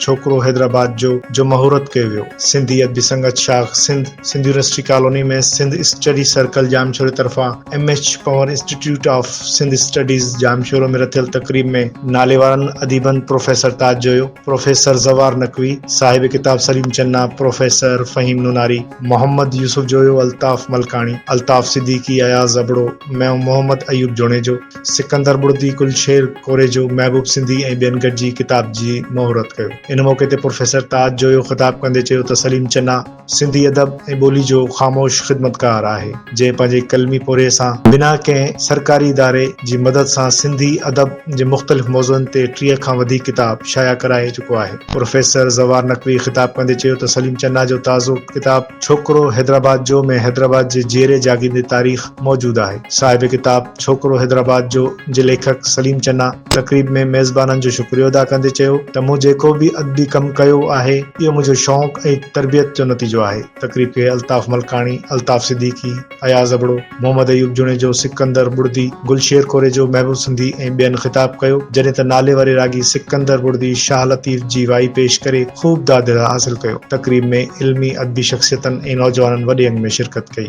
ڇوڪرو حيدرآباد جو جو مهورت ڪيو ويو. سنڌي ادبي سنگت شاخ Sindh, Sindh university colony ۾ Sindh study circle ڄامشوري طرفان M H Panhwar institute of Sindh studies Jamshoro ۾ رٿيل تقريب ۾ ناليوارن اديبن پروفيسر تاج جويو، پروفيسر زوار نقوي، صاحب ڪتاب سليم چنا، پروفيسر فهيم نوناري، محمد يوسف جويو، الطاف ملڪاڻي، الطاف صديقي، اياز ابڙو، محمد ايوب جوڻيجو، سڪندر ٻڙڌي، گل شير ڪوريجو، محبوب سنڌي ۽ ٻين گڏجي ڪتاب جي مهورت ڪيو. ان موقعي تي پروفيسر تاج جويو خطاب ڪندي چيو ته سليم چنا سنڌي ادب ۽ ٻولي جو خاموش خدمتگار آهي، جنهن پنهنجي قلمي پورهيي سان بنا ڪنهن سرڪاري اداري جي مدد سان سنڌي ادب جي مختلف موضوعن تي ٽيهه کان وڌيڪ ڪتاب شايع ڪرائي چڪو آهي. پروفيسر زوار نقوي خطاب ڪندي چيو ته سليم چنا جو تازو ڪتاب ڇوڪرو حيدرآباد جو ۾ حيدرآباد جي جيئري جاڳيندي تاريخ، موجود آهي. صاحب ڪتاب ڇوڪرو حيدرآباد جو جي ليکڪ سليم چنا تقريب ۾ ميزبانن جو شڪريو ادا ڪندي چيو ته مون جيڪو به ادبي ڪم ڪيو آهي اهو منهنجو شوق ۽ تربيت جو نتيجو آهي. تقريب کي الطاف ملڪاڻي، الطاف صديقي، اياز ابڙو، محمد ايوب جوڻيجو، سڪندر ٻڙدي، گل شير ڪوريجو، محبوب سنڌي ۽ ٻين خطاب ڪيو جڏهن ته ناليواري راڳي سڪندر ٻڙدي شاهه لطيف جي وائي پيش ڪري خوب داد حاصل ڪيو. تقريب ۾ علمي ادبي شخصيتن ۽ نوجوانن وڏي انگ ۾ شرڪت ڪئي.